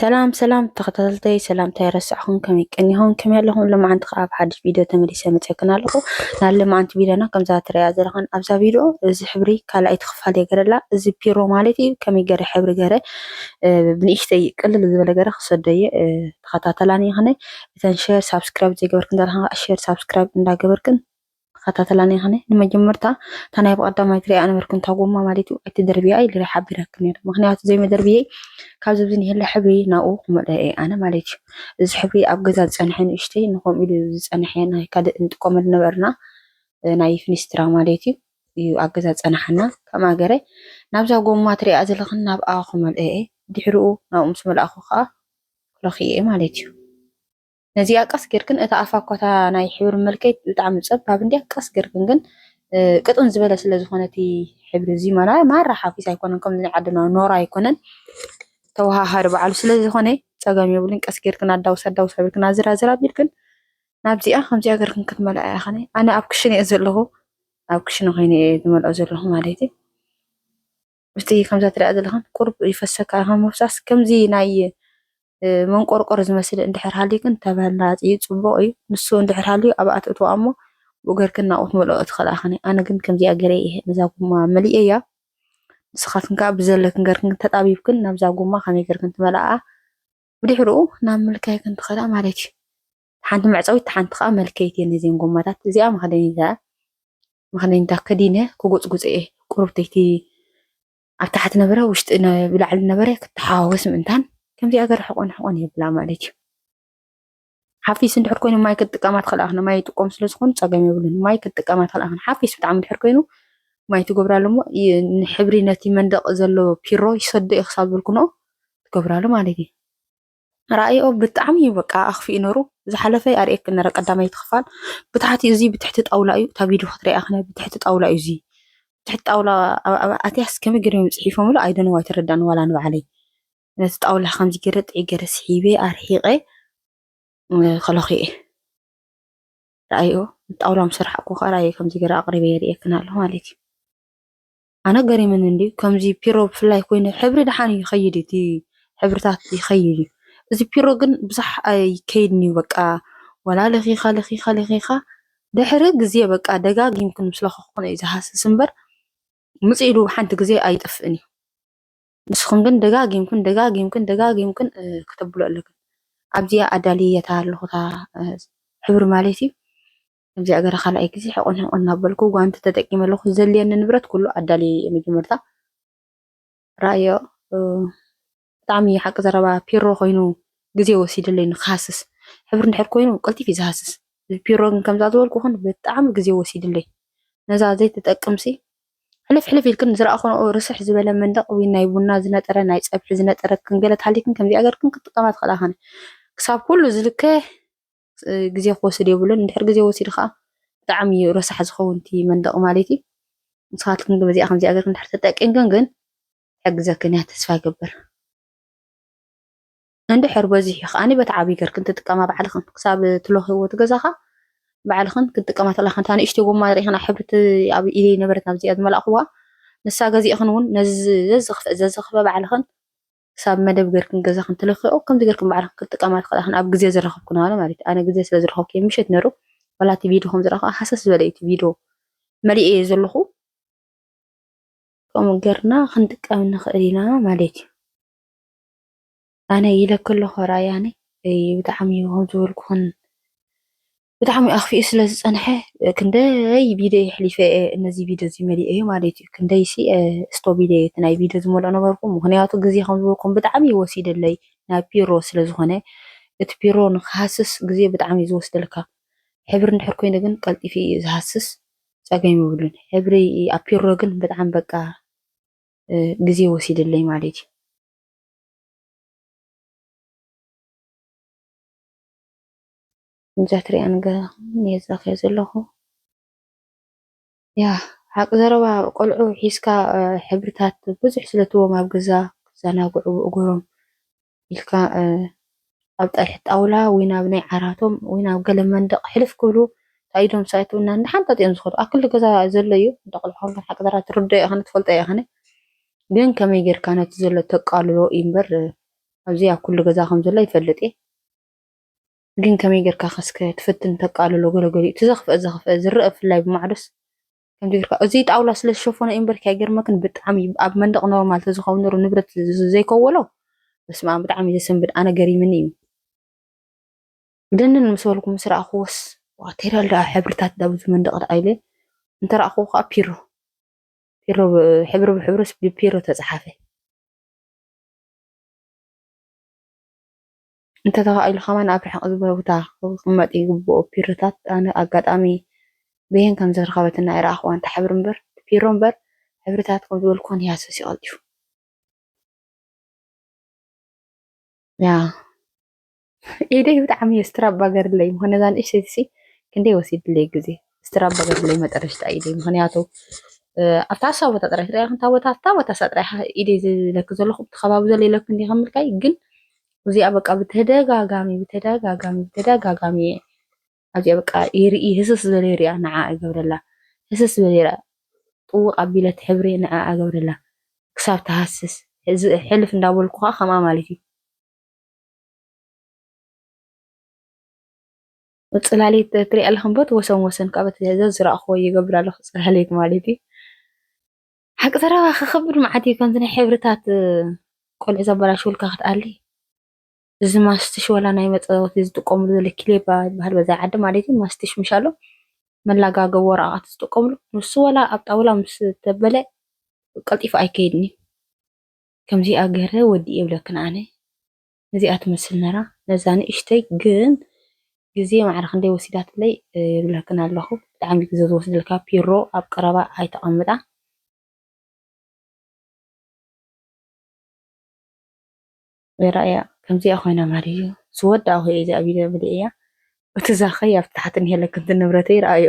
ሰላም ሰላም ተኸታተልተይ ሰላምታይ ረሳዕኹም ከመይ ቀኒኹም ከመይ ኣለኹም ሎማዓንቲ ከዓ ኣብ ሓድሽ ቪድዮ ተመሊሰ መፅክን ኣለኹ ናይ ሎማዓንቲ ቪድዮና ከምዛ ትሪኣ ዘለኹን ኣብዛ ቪድዮ እዚ ሕብሪ ካልኣይቲ ክፋል እየ ገረላ እዚ ፒሮ ማለት እዩ ከመይ ገረ ሕብሪ ገረ ብንእሽተይ ቅልል ዝበለ ገረ ክሰዶ እየ ተኸታተላኒ ይኽነ እተን ሸር ሳብስክራይብ ዘይገበርክን ዘለኹም ሸር ሳብስክራይብ እንዳገበርክን ተኸታተላ ነይኸነ ንመጀመርታ እታ ናይ ብቐዳማይ ትሪኣ ነበርክ እንታ ጎማ ማለት እዩ ኣይትደርብያ ኢለ ሓቢረክ ነይረ ምክንያቱ ዘይመደርብየ ካብዚ ብዚ ንሄለ ሕብሪ ናብኡ ክመልኦ እየ ኣነ ማለት እዩ እዚ ሕብሪ ኣብ ገዛ ዝፀንሐ ንእሽተይ ንከምኡ ኢሉ ዝፀንሐ ናይ ካልእ እንጥቀመሉ ነበርና ናይ ፍኒስትራ ማለት እዩ እዩ ኣብ ገዛ ዝፀናሓና ከም ኣገረ ናብዛ ጎማ ትሪኣ ዘለኽን ናብኣ ክመልኦ እየ ድሕሪኡ ናብኡ ምስ መልኣኹ ከዓ ክረክየ ማለት እዩ ነዚኣ ቀስ ጌርክን እታ ኣፋ እኳ እታ ናይ ሕብሪ መልከይት ብጣዕሚ ጸባብ እንድያ ቀስ ጌርክን ግን ቅጥን ዝበለ ስለ ዝኾነ እቲ ሕብሪ እዚ ማና ማራ ሓፊስ ኣይኮነን ከምዚ ናይ ዓድና ኖራ ኣይኮነን ተወሃሃደ በዓሉ ስለ ዝኾነ ጸገም የብሉን ቀስ ጌርክን ኣዳውስ ኣዳውስ ኣብልክን ኣዝራዝር ኣቢልክን ናብዚኣ ከምዚኣ ጌርክን ክትመልኣ እያ ኸነ ኣነ ኣብ ክሽነ እየ ዘለኹ ኣብ ክሽነ ኮይነ እየ ዝመልኦ ዘለኹ ማለት እዩ ምስቲ ከምዛ ትሪኣ ዘለኻን ቁሩብ ይፈሰካ እዩ ካብ ምፍሳስ ከምዚ ናይ መንቆርቆር ዝመስል እንድሕር ሃልዩ ግን ተመራፂ እዩ ፅቡቕ እዩ ንሱ እንድሕር ሃልዩ ኣብኣ ትእትዋ እሞ ብኡ ገርክን ናብኡ ትመልኦ ትኽእላ ኢኽን ኣነ ግን ከምዚኣ ገረ እየ ነዛ ጉማ መሊእ እያ ንስኻትክን ከዓ ብዘለክን ገርክን ተጣቢብክን ናብዛ ጉማ ከመይ ገርክን ትመልኣ ብድሕርኡ ናብ ምልካይክን ትኽእላ ማለት እዩ ሓንቲ መዕጸዊት እታ ሓንቲ ከኣ መልከይት እየን ነዚኤን ጎማታት እዚኣ መኽደኒታ መኽደኒታ ከዲነ ክጎጽጉጽ እየ ቁርብተይቲ ኣብ ታሕቲ ነበረ ውሽጢ ብላዕሊ ነበረ ክተሓዋወስ ምእንታን ከምዚ ኣገር ሕቆን ሕቆን የብላ ማለት እዩ ሓፊስ እንድሕር ኮይኑ ማይ ክትጥቀማ ትኽእላ ክን ማይ ይጥቀሙ ስለ ዝኾኑ ፀገም የብሉን ማይ ክትጥቀማ ትኽእላ ክን ሓፊስ ብጣዕሚ እንድሕር ኮይኑ ማይ ትገብራሉ እሞ ሕብሪ ነቲ መንደቅ ዘሎ ፒሮ ይሰዶ እዩ ክሳብ ዝበልኩ ንኦ ትገብራሉ ማለት እዩ ራእይኦ ብጣዕሚ እዩ በቃ ኣክፊኡ ነሩ ዝሓለፈ ኣርእየኪ ነረ ቀዳመይቲ ክፋል ብታሕቲ እዚ ብትሕቲ ጣውላ እዩ እታ ቪድዮ ክትሪኣ ክነ ብትሕቲ ጣውላ እዩ እዚ ብትሕቲ ጣውላ ኣትያስ ከመይ ገይሮም እዮም ፅሒፎምሉ ኣይደነው ኣይተረዳእን ዋላ ንባዕለይ ነቲ ጣውላ ከምዚ ገይረ ጥዒ ገይረ ስሒበ ኣርሒቀ ከለኹ እየ ራእይኦ ጣውላ ምስ ርሓቅኩ ከዓ ራእየ ከምዚ ገይረ ኣቅሪበ የርእየክን ኣለኹ ማለት እዩ ኣነ ገሪሙኒ እንድዩ ከምዚ ፒሮ ብፍላይ ኮይኑ ሕብሪ ደሓን ይኸይድ እቲ ሕብርታት ይኸይድ እዩ እዚ ፒሮ ግን ብዙሕ ኣይከይድን እዩ በቃ ወላ ለኺኻ ለኺኻ ለኺኻ ድሕሪ ግዜ በቃ ደጋጊምክን ምስ ለኸኽኩን እዩ ዝሃስስ እምበር ምፅ ኢሉ ሓንቲ ግዜ ኣይጠፍእን እዩ ንስኹም ግን ደጋጊምክን ደጋጊምክን ደጋጊምክን ክተብሉ ኣለክን ኣብዚኣ ኣዳልየታ ኣለኹታ ሕብሪ ማለት እዩ እግዚኣብሔር ካልኣይ ግዜ ሕቁን ሕቁን እናበልኩ ጓንቲ ተጠቂመ ኣለኩ ዘድልየኒ ንብረት ኩሉ ኣዳልየ እየ መጀመርታ ራእዮ ብጣዕሚ ሓቂ ዘረባ ፒሮ ኮይኑ ግዜ ወሲድለይ ንክሃስስ ሕብሪ እንድሕር ኮይኑ ቀልጢፍ እዩ ዝሃስስ ፒሮ ግን ከምዛ ዝበልኩ ግን ብጣዕሚ ግዜ ወሲድለይ ነዛ ዘይትጠቅምሲ ሕልፍ ሕልፍ ኢልክን ዝረኣኹንኦ ርስሕ ዝበለ መንደቕ ወይ ናይ ቡና ዝነጠረ ናይ ፀብሒ ዝነጠረ ክንገለ ተሃሊክን ከምዚኣ ገርክን ክጥቀማ ትኽእላ ኸነ ክሳብ ኩሉ ዝልከ ግዜ ክወስድ የብሉን። እንድሕር ግዜ ወሲዱ ከኣ ብጣዕሚ እዩ ረሳሕ ዝኸውን እቲ መንደቕ ማለት እዩ። ንስኻትክን ግን በዚኣ ከምዚኣ ጌርክን እንድሕር ተጠቂምክን ግን ትሕግዘክን እያ ተስፋ ይገብር። እንድሕር በዚሑ ከኣኒ በቲ ዓብዪ ጌርክን ትጥቀማ ባዕልኽን ክሳብ ትለኽይዎ እቲ ገዛኻ ባዕልኽን ክትጥቀማ ተላኽን እታ ንእሽተይ ጎማ ርኢኽና ሕብርቲ ኣብ ኢደይ ነበረት ናብዚኣ ዝመላእኽዋ ንሳ ገዚእኽን እውን ነዚ ዘዝኽፍአ ዘዝኽፍአ ባዕልኽን ክሳብ መደብ ገርክን ገዛክን ትልክዑ ከምዚ ገርክን ባዕልክን ክትጥቀማ ትክእላ ክን ኣብ ግዜ ዝረከብኩ ነረ ማለት ኣነ ግዜ ስለ ዝረከብኩ ምሸት ነሩ ዋላ እቲ ቪድዮ ከም ዝረከብ ሃሰስ ዝበለ እቲ ቪድዮ መሊኤ እየ ዘለኩ ከምኡ ገርና ክንጥቀም ንክእል ኢና ማለት እዩ ኣነ ኢለ ከለኩ ራያኒ ብጣዕሚ ከም ዝበልኩክን ብጣዕሚ ኣኽፊኡ ስለ ዝጸንሐ ክንደይ ቪድዮ የሕሊፈ እየ ነዚ ቪድዮ እዚ መሊኦ እዩ ማለት እዩ ክንደይ ሲ ስቶብ ኢለ እቲ ናይ ቪድዮ ዝመልኦ ነበርኩ ምክንያቱ ግዜ ከም ዝበልኩም ብጣዕሚ እዩ ወሲደለይ ናብ ፒሮ ስለ ዝኾነ እቲ ፒሮ ንክሃስስ ግዜ ብጣዕሚ እዩ ዝወስደልካ ሕብሪ እንድሕር ኮይኑ ግን ቀልጢፊ እዩ ዝሃስስ ጸገም ይብሉን ሕብሪ ኣብ ፒሮ ግን ብጣዕሚ በቃ ግዜ ወሲደለይ ማለት እዩ ከምዛ ትሪኣኒ ዘለኻ ዘለኹ ያ ሓቂ ዘረባ ቆልዑ ሒዝካ ሕብርታት ብዙሕ ስለትዎም ኣብ ገዛ ክዘናግዑ እግሮም ኢልካ ኣብ ጠልሒ ጣውላ ወይ ናብ ናይ ዓራቶም ወይ ናብ ገለ መንደቕ ሕልፍ ክብሉ ታኢዶም ሳይትውና እንዳሓንጠጥ እዮም ዝኸዱ ኣብ ክሊ ገዛ ዘሎ እዩ ደቕልዑ ከሎ ሓቂ ዘረባ ትርድኦ ይኸነ ትፈልጦ ይኸነ ግን ከመይ ጌርካ ነቲ ዘሎ ተቃልሎ እዩ እምበር ኣብዚ ኣብ ኩሉ ገዛ ከም ዘሎ ይፈልጥ እየ ግን ከመይ ጌርካ ከ እስከ ትፍትን ተቃልሎ ገለ ገሊኡ እቲ ዘኽፍኤ ዘኽፍኤ ዝረኣ ብፍላይ ብማዕዶስ ከምዚ ጌርካ እዚ ጣውላ ስለ ዝሸፈኖ እዩ እምበርኪ ኣይገርመክን ብጣዕሚ እዩ ኣብ መንደቕ ኖርማል ተዝኸውን ነሩ ንብረት ዘይከወሎ በስመ ኣብ ብጣዕሚ እዩ ዘሰንብድ ኣነ ገሪምኒ እዩ ደንን ምስ በልኩ ምስ ረኣኽዎስ ዋቴሪያል ደኣ ሕብርታት ዳ ብዙ መንደቕ ደኣ ኢለ እንተ ረኣኽዎ ከዓ ፒሮ ፒሮ ሕብሪ ብሕብርስ ብፒሮ ተፀሓፈ እንተተኻኢሉ ከማን ኣብ ርሕቕ ዝበለ ቦታ ክቕመጥ ይግብኦ። ፒሮታት ኣነ ኣጋጣሚ በየን ከም ዘረከበትኒ ኣይረኣኹዋን ትሓብር እምበር እቲ ፒሮ እምበር ሕብርታት ከም ዝበልኩወን ይሃስስ እዩ ቀልጢፉ። ያ ኢደይ ብጣዕሚ እየ ስትራባ ገርለይ ምኾ ነዛ ንእሽተይቲ ሲ ክንደይ ወሲድለይ ግዜ ስትራባ ገርለይ መጠረሽታ ኢደይ ምክንያቱ ኣብታ እሳ ቦታ ጥራይ ትሪኣ ክንታ ቦታ ኣብታ ቦታ እሳ ጥራይ ኢደይ ዝለኪ ዘለኹ እቲ ከባቢ ዘሎ ይለኪ እንዲ ከምልካይ ግን እዚኣ በቃ ብተደጋጋሚ ብተደጋጋሚ ብተደጋጋሚ እየ ኣብዚኣ በቃ ይርኢ ህስስ ዝበለ ይሪኣ ንዓ እገብረላ ህስስ ዝበለ ይሪኣ ጥውቕ ኣቢለት ሕብሪ ንዓ እገብረላ ክሳብ ትሃስስ ሕልፍ እንዳበልኩ ከዓ ከምኣ ማለት እዩ ፅላሌት ትሪኢ ኣለኹም በት ወሰን ወሰን ካብ ዘዝረእኽዎ ይገብር ኣለኹ ፅላሌት ማለት እዩ ሓቂ ዘረባ ክኽብድ መዓት እዩ ከምዚ ናይ ሕብርታት ቆልዑ ዘበላሽውልካ ክትኣሊ እዚ ማስትሽ ወላ ናይ መፀወቲ ዝጥቀምሉ ዘሎ ኪሌባ ይበሃል በዛ ዓዲ ማለት እዩ ማስትሽ ምሻሎ መላጋገብ ወረቃት ዝጥቀምሉ ንሱ ወላ ኣብ ጣውላ ምስ ተበለ ቀልጢፉ ኣይከይድን እዩ ከምዚኣ ገረ ወዲ የብለክን ኣነ ነዚኣ ትመስል ነራ ነዛ ንእሽተይ ግን ግዜ ማዕረ ክንደይ ወሲዳትለይ ይብለክን ኣለኹ ብጣዕሚ ግዜ ዝወስድልካ ፒሮ ኣብ ቀረባ ኣይተቐምጣ ራእያ ከምዚኣ ኮይና ማርዩ ዝወዳእኹ እየ እዚኣ ቪድዮ ብልዕያ እቲ ዛኸይ ኣብ ታሕቲ ንሄለክንቲ ንብረተይ ረኣዮ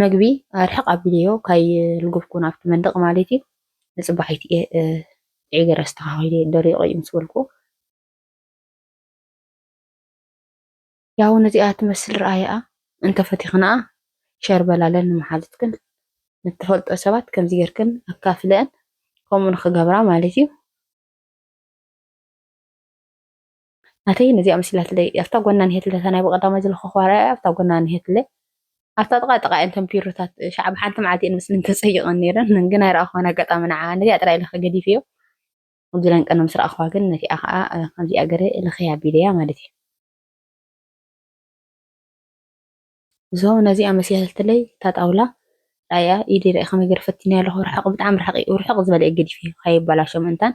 መግቢ ኣርሕቕ ኣቢለዮ ካይልጉብኩ ናብቲ መንደቕ ማለት እዩ ንጽባሒት እየ ዒገር ኣስተኻኺለ ደሪቑ እዩ ምስ በልኩ ያው ነዚኣ ትመስል ረኣይኣ እንተፈቲኽንኣ ሸር በላለን ንመሓዙትክን ንተፈልጦ ሰባት ከምዚ ጌርክን ኣካፍለአን ከምኡ ንክገብራ ማለት እዩ ናተይ ነዚኣ መሲላትለይ ኣብታ ጎና ንሄትለ እታ ናይ ብቀዳማይ ዝለኸኽዋ ርኣያ ኣብታ ጎና ንሄትለ ኣብታ ጥቃ ጥቃ እየን እተን ፒሮታት ሻዕብ ሓንቲ መዓልቲ እየን መስለን ተፀይቐን ነይረን ግን ኣይረኣኹዋን ኣጋጣሚ ንዓ ነዚኣ ጥራይ ለኸ ገዲፍዮ ዝለን ቀነ ምስ ረኣኹዋ ግን ነቲኣ ከዓ ከምዚኣ ገረ ለኸያ ኣቢለያ ማለት እዩ እዞ ነዚ ኣመሲያሰልትለይ እታ ጣውላ ራእያ ኢዲ ራኢ ከመይ ገይረ ፈቲነያ ኣለኹ ርሕቕ ብጣዕሚ ርሕቕ እዩ ርሕቕ ዝበለ እዩ ገዲፈዮ ከይበላሾ ምእንታን